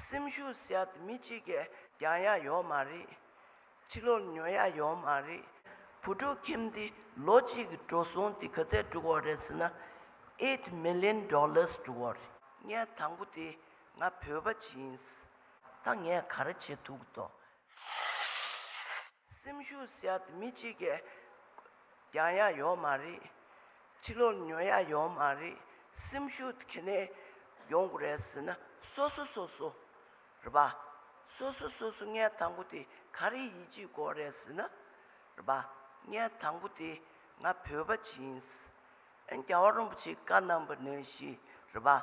སེམས་ཤུགས་ཟད་དེ་མི་གཅིག་གིས་རྒྱང་ཡག་ཡོག་མ་རེད། ཕྱི་ལོར་ཉོ་ཡག་ཡོག་མ་རེད། བུ་ཕྲུག་ཁྱིམ་འདི་ལོ་གཅིག་གི་འགྲོ་སོང་འདི་ག་ཚད་དཀྲུགས་བ་རེད་ཟེར་ན། Eight Million Dollars དཀྲུགས་བ་རེད། ངས་དང་པོ་དེ་ང་བོད་པ་ཇི་ཡིན། ད་ངས་ག་རེ་བྱེད་ཐུག་དོ། སེམས་ཤུགས་ཟད་དེ་མི་གཅིག་གི། རྒྱང་ཡག་ཡོད་མ་རེད། ཕྱི་ལོག་ཉོ་ཡག་ཡོད་མ་རེད། སེམས་ཤུགས་གལ་ནས་ཡོང་དགོས་རེད་ཟེར་ན་སོ་སོ་སོ་སོ། རེད་པ། སོ་སོ་སོ་སོ་ངའི་དང་པོ་དེ་ག་རེ་ཡིད་ཆེས་དགོས་རེད་ཟེར་ན། རེད་པ། ངའི་དང་པོ་དེ་ང་བོད་པ་གཅིག་ཡིན། རྒྱལ་བ་རིན་པོ་ཆེའི་བཀའ་རྣམ་པ་ནི་ཞེས་རེ་བ།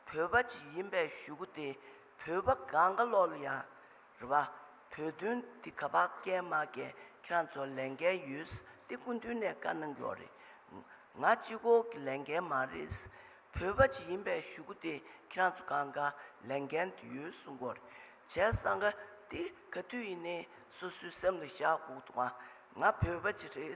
བོད་པ་ཅིག་ཡིན་པའི་ཞུ་གུ་དེ་བོད་པ་ག་འགའ་ལོག་ལ་ཡང་རེ་བ། བོད་དོན་འདི་ག་བག་སྐྱལ་མ་སྐྱལ་ཁྱེད་རང་ཚོ་ལས་འགན་ཡོད་ས་དེ་སྐུ་མདུན་ནས་བཀའ་གནང་རྒྱུ་རེད། ང་སྤྱི་ཁོག་གི་ལས་འགན་མ་རེད། བོད་པ་ཅིག་ཡིན་པའི་ཞུ་གུ་དེ་ཁྱེད་རང་ཚོ་ག་འགའ་ལས་འགན་དེ་ཡོད་གསུང་གོ་རེད། བྱས་ས་འགའ་དེ་ག་དུས་ཡིན་ནའི་སོ་སོའི་སེམས་ལ་བཞག་གོག་ཏུ་ང་ང་བོད་པ་ཅིག་རེད།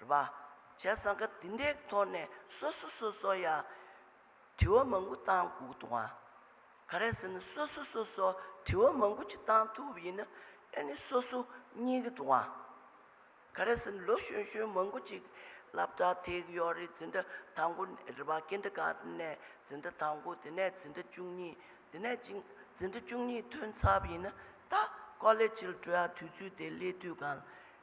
རེད་པ། བྱས་ཙང་ཁ་འདི་འདྲའི་ཐོག་ནས་སོ་སོ་སོ་སོ་ཡ། དྲི་བ་མང་པོ་བཏང་དགོས་འདུག་ཨ། ག་རེད་ཟེར་ན་སོ་སོ་སོ་སོ་དྲི་བ་མང་པོ་ཅིག་བཏང་ཐུབ་པ་ཡིན་ན་ཨེ་ནི་སོ་སོ་རྙེད་གི་འདུག་ཨ། ག་རེད་ཟེར་ན་ལོ་གཞོན་གཞོན་མང་པོ་ཅིག་སླབ་གྲྭ་དེ་གི་ཡོག་རེད་འཛིན་གྲྭ་དང་པོ་རེད་པ་ཀིན་ཏི་ག་ནས་འཛིན་གྲྭ་དང་པོ་དེ་ནས་འཛིན་གྲྭ་བཅུ་གཉིས་དེ་ནས་ཅིང་འཛིན་གྲྭ་བཅུ་གཉིས་ཐོན་ཚབ་ཡིན་ན་ད་ཀོ་ལེ་ཇིལ་བྲོ་ཡ་དུས་ཚོད་དེ་སླེ་དུས་གང་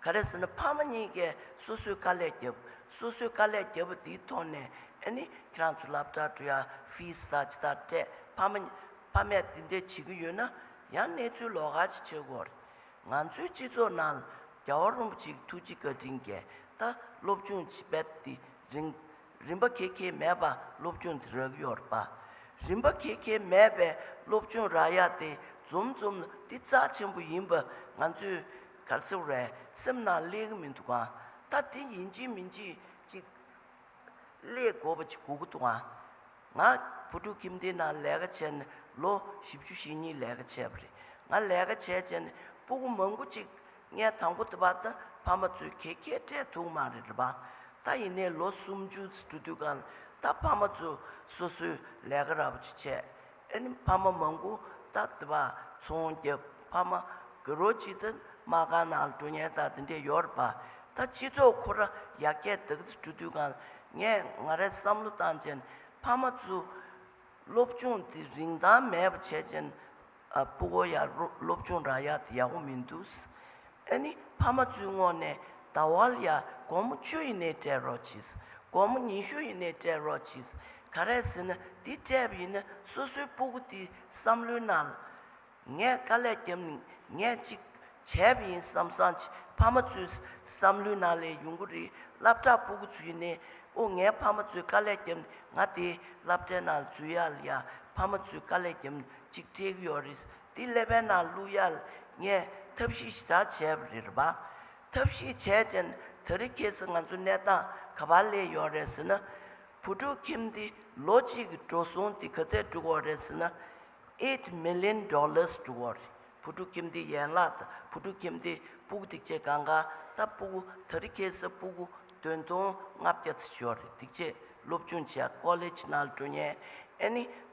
ག་རེ་ཟེར་ན་ཕ་མ་གཉིས་ཀས་སོ་སོའི་དཀའ་ལས་བརྒྱབ། སོ་སོའི་དཀའ་ལས་བརྒྱབ་པ་དེའི་ཐོག་ནས་ཨེ་ནི་ཁྱེད་རང་ཚོ་སླབ་གྲྭར་འགྲོ་ཡ Fees དང་ཇི་ལྟར་སྤྲད་ཕ་མ་ཕ་མས་དེ་འདྲས་བྱེད་ཀྱི་ཡོད་ན་ཡང་གནས་ཚུལ་ལོགས་ཀ་ཅིག་བྱེད་དགོས་རེད། ང་ཚོའི་སྤྱི་ཚོགས་ནང་ལ་རྒྱ་བ་རིན་པོ་ཆེ་གི་ཐུགས་རྗེ་བཀའ་དྲིན་རྒྱལ་ད་སློབ་ཆུང་བས་དེ་རིང་རིན་པ་ཁེ་ཁེ་མེད་པ་སློབ་ཆུང་དེ་རག་ཡོད་རེད་པ། རིན་པ་ཁེ་ཁེ་མེད་པའི་སློབ་ཆུང་རག་ཡ་དེ་འཛོམས་འཛོམས་ལ་དེ་རྩ་ཆེན་པོ་ཡིན་པ་ང་ཚོས། གར་ཟེར་བས་སེམས་ན་ལེགས་ཀྱི་མི་འདུག་ག་ད་དེ་ཡིན་གཅིག་མིན་གཅིག་ཅིག། ཀླད་གོ་བ་ཅིག་གོ་གི་འདུག་ག། ང་བུ་ཕྲུག་ཁྱིམ་སྡེའི་ནང་ལས་ཀ་བྱས་ནས་ལོ་བཞི་བཅུ་ཞེ་གཉིས་ལས་ཀ་བྱས་པ་རེད། ང་ལས་ཀ་བྱས་བྱས་ནས་སྤུ་གུ་མང་པོ་ཅིག་ངའི་དང་པོ་དེ་བར་ད་ཕ་མ་ཚོས་ཁྱེད་ཁྱེད་སྤྲད་འདུག་མ་རེད་རེད་པ། ད་ཡིན་ནའི་ལོ་སུམ་ཅུ་འགྲོ་དུས་ག་ད་ཕ་མ་ཚོས་སོ་སོའི་ལས་ཀ་ར་བ་ཅིག་བྱས་ཨེ་ནི་ཕ་མ་མང་པོ་ད་དེ་པ་ཚོང་གི་ཕ་མ་གི་རོ་ཅི་ཙི་མ་གང་ན་འགྲོ་ཉེན་ད་དེ་འདྲས་ཡོད་རེད་པ་ད་སྤྱི་ཚོགས་ཁོ་ར་ཡག་སྐྱེད་དེ་གཟི་བྲུ་དུས་གང་ངས་ང་རའི་བསམ་བློ་བཏང་ཅན་ཕ་མ་ཚུ་སློབ་སྦྱོང་དེ་རིན་ཐང་མེད་པ་བྱས་ཅན་སྤུ་གོ་ཡག་སློབ་སྦྱོང་ར་ཡག་དེ་ཡག་པོ་མི་འདུག་ཨེ་ནི་ཕ་མ་བཙུན་མོ་ནས་ད་བལ་ཡ་དགོང་མོ་བཅུ་ཡི་ནས་སྤྲད་རོགས་གྱིས། དགོང་མོ་ཉི་ཤུ་ཡི་ནས་སྤྲད་རོགས་གྱིས། ག་རེད་ཟེར་ན་འདི་སྤྲད་པ་ཡིན་ན་སོ་སོའི་སྤུ་གུ་དེ་བསམ་བློའི་ནང་ལ། ངས་དཀའ་ལས་བརྒྱབ་ནས་ངས་ཅིག་བྱས་པ་ཡིན་བསམ་བསམ་གྱིས་ཕ་མ་ཚོའི་བསམ་བློའི་ནང་ལས་ཡོང་གི་རེད་བསླབ་གྲྭར་སྤུ་གུ་འཛུལ་ནས་ཨོ་ངའི་ཕ་མ་ཚོས་དཀའ་ལས་བརྒྱབ་ནས་ང་དེ་བསླབ་གྲྭའི་ནང་ལ་འཛུལ་ཡག་ལ་ཡ་ཕ་མ་ཚོས་དཀའ་ལས་བརྒྱབ་ནས་ཅིག་སྤྲད་གི་ཡོད་རེད་འདི་སླེབས་པའི་ནང་གླུ་གཡར་ངས་ཐབས་ཤེས་ཞེ་དྲག་བྱས་པ་རེད་པ། ཐབས་ཤེས་བྱས་རྗེས་ན་ད་རི་ཁྱེད་སུ་ང་ཚོའི་གནས་སྟངས་ག་པར་སླེབས་ཡོད་རེད་ཟེར་ན། བུ་ཕྲུག་ཁྱིམ་འདི་ལོ་གཅིག་གི་འགྲོ་སོང་འདི་ག་ཚད་སྒྲུག་འོག་རེད་ཟེར་ན། Eight million dollars སྒྲུག་འོག་རེད། བུ་ཕྲུག་ཁྱིམ་འདི་ཡན་ལག་དང་བུ་ཕྲུག་ཁྱིམ་འདི་སྤུག་སྡིག་ཆེ་གང་གང་ད་སྤུག་ད་རི་ཁྱེད་སུ་སྤུག་བདུན་སྟོང་ལྔ་བརྒྱ་ཚུད་ཞོག་རེད་སྡིག་ཆེ་སློབ་ཆུང་བྱས་ཀོ་ལེ་ཇི་ནང་ལ་འགྲོ་ཉན་ཨེ་ནི།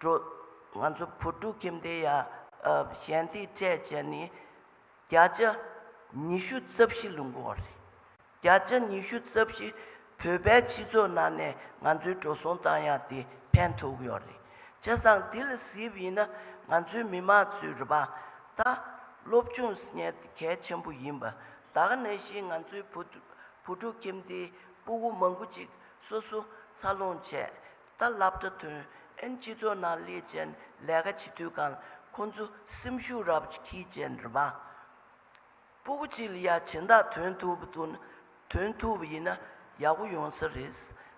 འགྲོ། ང་ཚོ་བུ་ཕྲུག་ཁྱིམ་སྡེ་ཡ། གཞན་སྡེ་བཅས་བྱས་ནས་བརྒྱ་ཆ་ཉི་ཤུ་རྩ་བཞི་ལུང་མགོ་བ་རེད། བརྒྱ་ཆ་ཉི་ཤུ་རྩ་བཞི་བོད་པའི་སྤྱི་ཚོགས་ནང་ནས་ང་ཚོའི་འགྲོ་སོང་བཏང་ཡག་དེ་ཕན་ཐོགས་ཡོད་རེད། བྱས་ཙང་དེ་ལ་གཟིགས་ཡིན་ན་ང་ཚོའི་མི་དམངས་ཚོའི་རུ་པ་དང། སློབ་ཆུང་སྙན་གལ་ཆེན་པོ་ཡིན་པ་དག་ནད་བཞིན་ང་ཚོའི་བུ་ཕྲུག་ཁྱིམ་སྡེའི་སྤུ་བོ་མང་པོ་ཅིག་སོ་སོ་འཚར་ལོངས་བྱས་ད་ལབ་ཏུ་ཐོན་ཨན་སྤྱི་ཚོགས་ནང་ལས་ཅན་ལས་ཀ་བྱེད་དུས་གང་ཁོ་ཚོ་སེམས་ཤུགས་རབ་ཀྱི་ཁྱི་ཅན་རེད་པ། སྤུ་གུ་གཅིག་ལ་ཡ་བྱེད་མདའ་དོན་ཐུབ་པ་དུ་དོན་ཐུབ་པ་ཡིན་ན་ཡག་པོ་ཡོང་ས་རེད།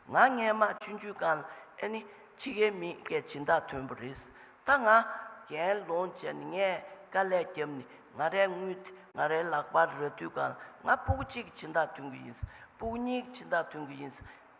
ང་རྔན་མ་ཆུན་ཆུན་གང་ལ་ཨེ་ནི་ཁྱི་གའི་མི་སྐད་བྱེད་མདའ་དོན་པོ་རེད། ད་ང་རྒན་ལོང་བྱས་ནས་ངས་དཀའ་ལས་རྒྱབ་ནས་ང་རའི་དངུལ་དེ་ང་རའི་ལག་པར་ར་དུས་གང་ལ་ང་སྤུ་གུ་གཅིག་གི་བྱེད་མདའ་དོན་གི་ཡིན། སྤུ་གུ་གཉིས་ཀྱི་བྱེད་མདའ་དོན་གི་ཡིན།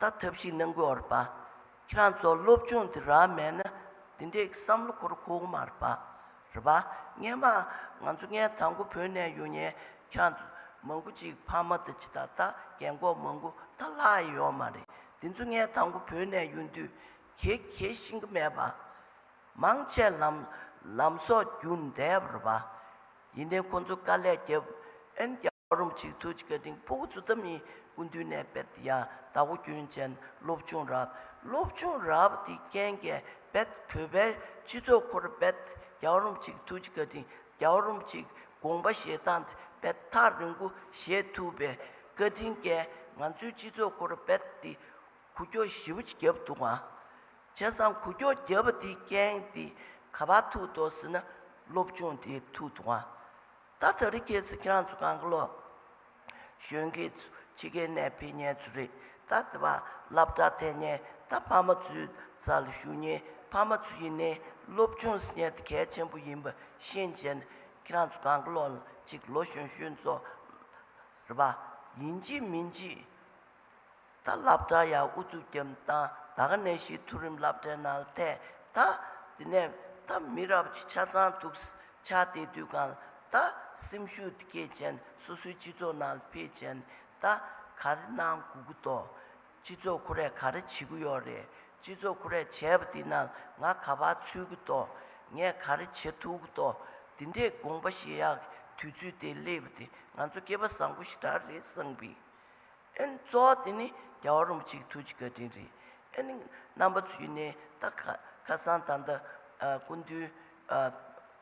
ད་ཐབས་ཤིག་གནང་དགོས་བར་པཱ། ཁྱེད་རང་ཚོ་སློབ་ཆུང་དེ་རག་མེད་ན་དེ་འདྲའི་བསམ་བློ་འཁོར་ཁོག་མ་རེད་པཱ། རེད་པཱ། ངས་མ། ང་ཚོ་ངའི་དང་པོ་བོད་ནས་ཡོང་ཉེན་ཁྱེད་རང་ཚོ་མང་པོ་ཅིག་ཕ་མ་དང་ཇི་ལྟར་ལྟ་རྒན་འགོག་མང་པོ་ད་ལྷག་ཡེ་ཡོག་མ་རེད་དེ་ཚོ་ངའི་དང་པོ་བོད་ནས་ཡོང་དུས་གེ་གེ་ཤིང་གི་མེད་པཱ། མང་ཆེ་ལམ་ལམ་སོགས་རྒྱུག་འདེབས་རེད་པཱ། ཡིན་ནའི་ཁོ་ཚོ་དཀའ་ལས་རྒྱབ་ཨེ་རྒྱབ། རུམ་གཅིག་ཐུགས་ཀྱི་སྒྲིང་སྤོ་དགུ་ཚུལ་ཐབས་གཉིས་ཀུན་འདུས་གནས་དཔལ་ཡང་དག་པོ་རྒྱུན་ཅན་བློ་བྱུང་རབ། བློ་བྱུང་རབ་འདི་རྐྱེན་རྒྱལ་དཔལ་བོད་པའི་སྤྱི་ཚོགས་འཁོར་དཔལ། རྒྱ་རུམ་གཅིག་ཐུགས་ཀྱི་སྒྲིང་རྒྱ་རུམ་གཅིག་དགོངས་པ་ཞེ་སྡང་དཔལ་ཐག་རིང་པོ་ཞེས་ཐུབ་པའི་བཀའ་དྲིན་རྐྱེན་ང་ཚོའི་སྤྱི་ཚོགས་འཁོར་དཔལ་འདི་གུ་ཁྱོ་བཞི་བོ་བརྒྱབ་འདུག་ཨང། བྱས་ཙང་གུ་ཁྱོ་བརྒྱབ་པ་འདི་རྐྱེན་འདི་ག་པར་ཐུག་འདོག་ཟེར་ན་བློ་བྱུང་འདི་ཐུག་འདུག་ཨང། ད་ཚ་རིག་སྐྱེས་སུ་ཁྱེད་རང་ཚོ་གང་གི་ལོ། གཞོན་སྐྱེས་ཚོ་ཕྱི་རྒྱལ་ནས་ཕེབས་ཉེན་ཚོ་རེད་ད་དེ་བ་ལབ་དྲག་ཐལ་ཉེན་ད་ཕ་མ་ཚོའི་རྩ་ལ་ཞུགས་ཉེན་ཕ་མ་ཚོ་ཡིན་ནའི་སློབ་ཆུང་ཟེར་ཉེན་དེ་གལ་ཆེན་པོ་ཡིན་པ་ཤེས་བྱས་ནས་ཁྱེད་རང་ཚོ་གང་གི་ལོ་ལ་ཅིག་ལོ་གཞོན་གཞོན་ཚོ་རེད་པ་ཡིན་གྱི་མིན་གྱི། ད་བླ་བྲང་ཡང་དབུ་བཙུགས་རྒྱབ་བཏང་ད་ག་ནས་ཤི་ཐུགས་རིམ་བླ་བྲེ་ནང་ལ་ཐད་ད། དེ་ནས་ད་མི་རབས་ཀྱི་ཆ་ཚང་ཐུགས་སུ་ཆ་དེ་དུས་གང་ལ་ད། སེམས་ཤུགས་དེ་སྐད་ཅན་སོ་སོའི་སྤྱི་ཚོགས་ནང་ལ་འཕེལ་ཅན་ད། ག་རེ་གནང་དགོས་ཀི་འདུག་སྤྱི་ཚོགས་ཁོ་རས་ག་རེ་བྱེད་ཀི་ཡོད་རེད་སྤྱི་ཚོགས་ཁོ་རས་བྱས་པ་དེ་རྣམས་ལ་ང་ག་པར་ཚུད་ཀི་འདུག་ངས་ག་རེ་བྱེད་ཐུག་གི་འདུག་དེ་འདྲའི་དགོངས་པ་བཞེས་ཡག་གི་དུས་ཚོད་དེ་སླེབས་པ་དེ་ང་ཚོ་སྐལ་པ་བཟང་པོ་ཞིག་འདྲ་རེད་བསམ་གི། ཨེ་ནི་གཙོ་བོ་དེ་ནི་རྒྱལ་བ་རིན་པོ་ཆེའི་ཐུགས་ཀྱི་བཀའ་དྲིན་རེད། ཨེ་ནི་རྣམ་པ་ཚུལ་ནི་ད་ཁ་སང་ད་ལྟ་སྐུ་མདུན་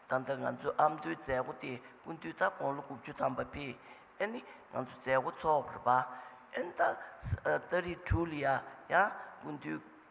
ད་ལྟ་ང་ཚོའི་ཨ་མདོའི་མཛད་སྒོ་དེ་སྐུ་མདུན་ད་དགུང་ལོ་དགུ་བཅུ་ཐམ་པ་པས་ཨེ་ནི་ང་ཚོ་མཛད་སྒོ་ཚོགས་པར་པ། ཨེ་ནི་ད་ཨ་ད་རི་ཁྲུའུ་ལི་ཡ་ཡང་སྐུ་མདུན་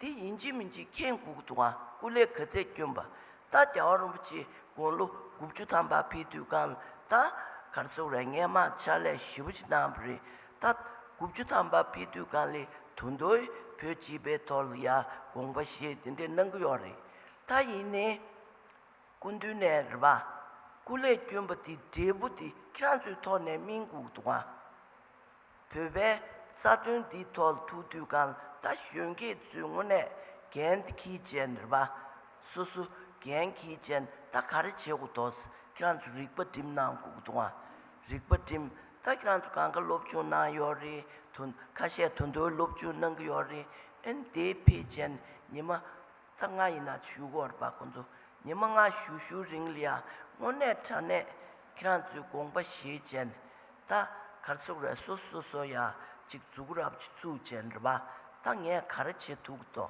དེ་ཡིན་གཅིག་མིན་གཅིག་མཁྱེན་དགུག་དུ་དབང་སྐུ་ལས་ག་ཚད་བསྐྱོན་པ། རྟ་རྒྱ་བ་རིན་པོ་ཆེ་དགུང་ལོ་དགུ་བཅུ་ཐམ་པ་ཕེབས་དུས་སྒང་ལ་རྟ་གར་སོགས་རས་ངན་མ་ཕྱག་ལས་ཞིབ་པོ་ཅིག་གནང་བ་རེད། རྟ་དགུ་བཅུ་ཐམ་པ་ཕེབས་དུས་སྒང་ལའི་དུ་མདོའི་བོད་སྤྱི་པའི་ཐོག་ལ་ཡར་དགོངས་པ་ཞེས་དེ་འདྲའི་གནང་གི་ཡོད་རེད། ད་ཡིན་ནས་སྐུ་མདུན་ནས་རེད་པ། སྐུ་ལས་བསྐྱོན་པ་དེ་འབྲས་བུ་དེ་ཁྱེད་རང་ཚོའི་ཐོག་ནས་སྨིན་དགུག་དུ་དབང། བོད་པའི་རྩ་དོན་འདི་ཐོག་ཐུག་དུས་གང་ལྟ་གཞོན་སྐྱེས་ཚོའི་དངོས་གནས་འགན་འཁྱི་ཅན་རེད་པ། སོ་སོ་འགན་འཁྱི་ཅན་ད་ག་རེ་བྱེད་གོ་དོག་ཁྱེད་རང་ཚོ་རིག་པ་སྒྲིམ་གནང་གོ་དོག་ང་རིག་པ་སྒྲིམ་ད་ཁྱེད་རང་ཚོ་གང་ག་སློབ་སྦྱོང་གནང་ཡོག་རེད་དོ་ཁ་ཤས་དོ་མདོའི་སློབ་སྦྱོང་གནང་གི་ཡོག་རེད་ཨན་དེའི་ཕེ་ཅན་ཉི་མ་རྩ་སྔགས་ཡིན་ན་བཞུགས་སྒོར་སྦ་དགོས་མཛོད་ཉི་མ་སྔ་གཞུག་བཞུགས་རིང་ལ་དངོས་གནས་དྲ་གནས་ཁྱེད་རང་ཚོའི་དགོངས་པ་བཞེས་ཅན་ད་གར་སོག་ར་སོ་སོ་སོ་ཡ་གཅིག་འཛུགས་ར་བཙུགས་ཅན་ར་བ་ད་ངས་ག་ར་བྱེད་ཐུག་དོ་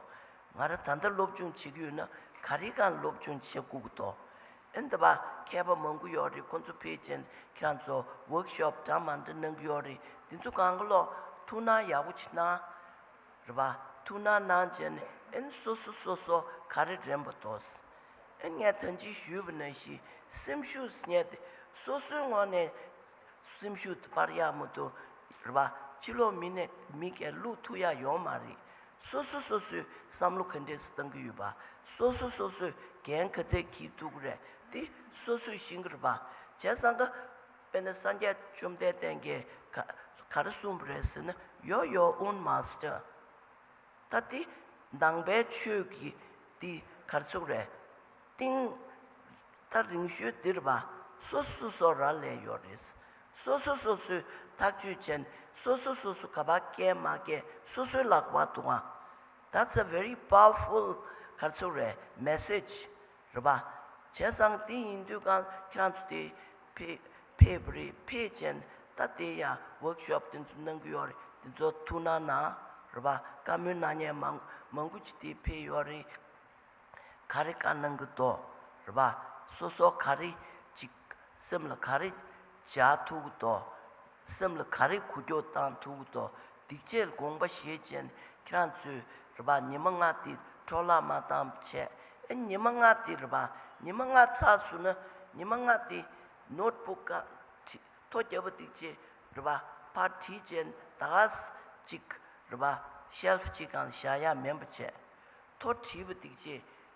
ང་ར་ད་ད་སློབ་སྦྱོང་བྱེད་ཀྱི་ཡོད་ན་ག་རེ་གང་སློབ་སྦྱོང་བྱེད་དགོས་དོ་ཨེ་འདི་བ་མཁས་པ་མང་པོ་ཡོད་རེད་ཁོང་ཚོ་ཕེབས་ཅན་ཁྱེད་རང་ཚོ་ཝོརྐ་ཤོབ་འདྲ་མང་འདྲ་གནང་གི་ཡོད་རེད་འདི་ཚོ་གང་ག་ལོག་ཐུག་ན་ཡག་པོ་བྱེད་ན། རེ་བ། ཐུགས་ནང་གནང་བྱས་ནས་ཨེན་སོ་སོ་སོ་སོ་ག་རེ་དྲན་པོ་ཐོགས། ཨེ་ངས་ད་ཅི་ཞུས་པ་ན་ཞེས་སེམས་ཤུགས་རྙེད་དེ་སོ་སོའི་ངོགས་ནས་སེམས་ཤུགས་དེ་སྤར་ཡག་མོ་འདུག་རེ་བ། ཕྱི་ལོགས་མི་ནས་མི་གས་ལུག་ཐུག་ཡག་ཡོང་མ་རེད། སོ་སོ་སོ་སོའི་བསམ་བློ་ག་འདྲས་སུ་བཏང་གི་ཡོད་པ། སོ་སོ་སོ་སོས་གན་ག་ཚད་གྱིས་འདུག་རེད་དེ་སོ་སོས་ཤེས་གི་རེད་པ། བྱས་ཙང་ཀ། དཔེར་ན་སངས་རྒྱས་བཅོམ་ལྡན་བསྟན་དགེ། གར་གསུམ་རེད་ཟེར་ན་ཡོ་ཡོ་ཨུན་མ་སྟེ། ད་དེ་ནང་པའི་ཆོས་ཀྱི་འདི་གར་ཚུགས་རེད། ཏིང། ད་རིང་ཤོས་འདིར་བ་སོ་སོ་སོ་ར་ལས་ཡོ་རེད། སོ་སོ་སོ་སོའི་ཐག་གཅོད་ཅན་སོ་སོ་སོ་སོ་ག་བ་སྐྱེ་མ་སྐྱེ་སོ་སོའི་ལག་པ་དུ་བ། That's a very powerful གར་ཚུགས་རེད Message། རེད་པ། བྱས་ཙང་དེ་ཡིན་དུས་ཀང་ཁྱེད་རང་ཚོ་དེ། ཕེ་བོ་རི་ཕེ་ཅན་ད་དེ་ཡ་ཝོརཀ་ཤོབ་དེ་ཚོ་གནང་གི་ཡོད་རེད་དེ་ཚོ་ཐུགས་གནང་གནང། རེད་པ་བཀའ་མོལ་གནང་ཉན་མང་མང་པོ་ཅིག་དེ་ཕེ་ཡོད་རེད། ག་རེ་གང་གནང་གི་འདོག་རེད་པ། སོ་སོ་ག་རེ་ཅིག་སེམས་ལ་ག་རེ་བཞག་ཐུག་གི་འདོག། སེམས་ལ་ག་རེ་གུ་ཀྱོག་དང་ཐུག་དོ་སྡིག་ཆེར་དགོངས་པ་ཞེ་ཅན་ཁྱེད་རང་ཚོས་རེ་བ་ཉི་མ་ལྔ་དེ་འཕྲོ་བརླག་མ་བཏང་བྱས་ཨེ་ཉི་མ་ལྔ་དེ་རེ་བ་ཉི་མ་ལྔ་ཚ་ཟུར་ན་ཉི་མ་ལྔ་དེ་ནོར་བུ་ཀ་ཁྲི་ཐོ་རྒྱལ་པོ་སྡིག་ཆེ་རེ་བ་ཕར་ཁྲི་ཅན་དྭགས་གཅིག་རེ་བ་ཤེལ་ཕྱི་གང་བཞག་ཡ་མེན་པོ་བྱས་ཐོ་ཁྲི་བུ་སྡིག་ཆེ་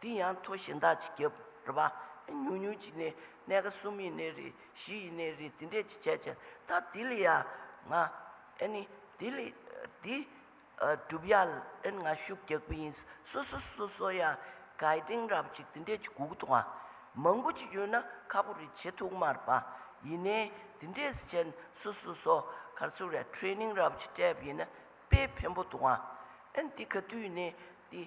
དེ་ཡང་མཐོ་གཞན་དག་ཅིག་རྒྱབ། རེ་བ། ཉུང་ཉུང་གཅིག་ནི་གནས་ཀ་གསུམ་ཡིན་ནི་རེད་བཞི་ཡིན་ནི་རེད་དེ་འདྲས་ཅིག་བྱས་ཀྱང་ད་དེ་ལས་ཡ། ང། ཨེ་ནི། དེ་ལས། དེ། གྲུབ་ཡ། ཨེན་ང་ཤུགས་རྒྱག་པོ་ཡིན། སོ་སོ་སོ་སོ་སོ་ཡ། གའི་སྟེང་རབ་ཅིག་དེ་འདྲས་ཅིག་གུག་ཐུག་ང། མང་པོ་ཅིག་ཡོད་ན་ཁག་པོ་རེ་བྱེད་ཐུག་མར་པ། ཡིན་ནའི། དེ་འདྲས་བྱས་ན་སོ་སོ་སོ། གར་སོ་རེ་ཁྲེ་ནིང་རབ་ཅིག་སྤྲད་པ་ཡིན་ན་དཔེ་ཕན་པོ་ཐུག་ང། ཨེན་དེ་ག་དུས་ཡིན་ནའི། དེ།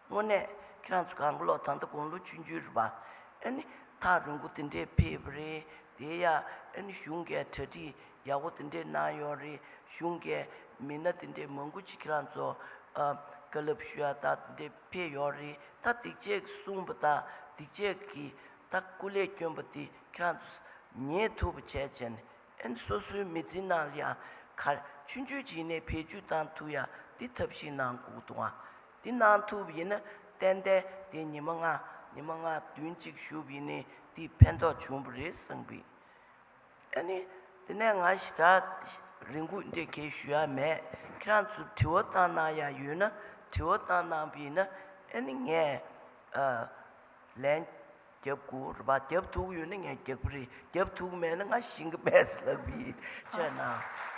དངོས་གནས་ཁྱེད་རང་ཚོ་གང་གི་ལོག་ད་ལྟ་དགུང་ལོ་བཅུ་འགྱུར་རེད་པ། ཨེ་ནི། ཐག་རིང་པོ་དེ་འདྲའི་ཕེབས་པ་རེད། དེ་ཡ། ཨེ་ནི་གཞུང་འགས་གྲ་སྒྲིག་ཡག་པོ་དེ་འདྲའི་གནང་ཡོད་རེད། གཞུང་གས་མི་སྣ་དེ་འདྲའི་མང་པོ་ཅིག་ཁྱེད་རང་ཚོ། བཀའ་སློབ་ཞུ་ཡག་དག་དེ་འདྲའི་ཕེབས་ཡོད་རེད། ད་སྡིག་སྤྱད་ཀྱི་གསུངས་པ་དག་སྡིག་སྤྱད་ཀྱི། ད་སྐུ་ལས་སྐྱོན་པ་དེ་ཁྱེད་རང་ཚོ། ཉེས་ཐུབ་པ་བྱས་བྱས་ནས་ཨེ་ནི་སོ་སོའི་མི་ཚེའི་ནང་ལ་ཡང། ཁ་མཆུ་མཆུ་བྱིན་ནས་བེད་སྤྱོད་བཏང་ཐུབ་ཡ་དེ་ཐབས་ཤེས་གནང་དགོས་འདུག་ཨ། འདི་གནང་ཐུབ་ཡིན་ན་ཏན་ཏན་དེ་ཉི་མ་ལྔ་ཉི་མ་ལྔ་བདུན་གཅིག་བཞུགས་ཡིན་ནི་དེ་ཕན་ཐོག་བྱུང་བ་རེད་གསུངས་པས། ཨ་ནི་དེ་ནས་ང་ཞི་དྲག་རེ་འགུག་འདེད་ཁེལ་ཞུ་ཡ་མེད་ཁྱེད་རང་ཚོ་དྲི་བ་གཏང་གནང་ཡ་ཡོད་ན་དྲི་བ་གཏང་གནང་བས་ན་ཨ་ནི་ངས་ལན་རྒྱབ་དགོས་རེད་བ་རྒྱབ་ཐུག་ཡོད་ན་ངས་རྒྱབ་གི་རེད་རྒྱབ་ཐུག་མེད་ན་ང་ཞི་གི་མེད་ཟེར་བས་ཆད་གནང།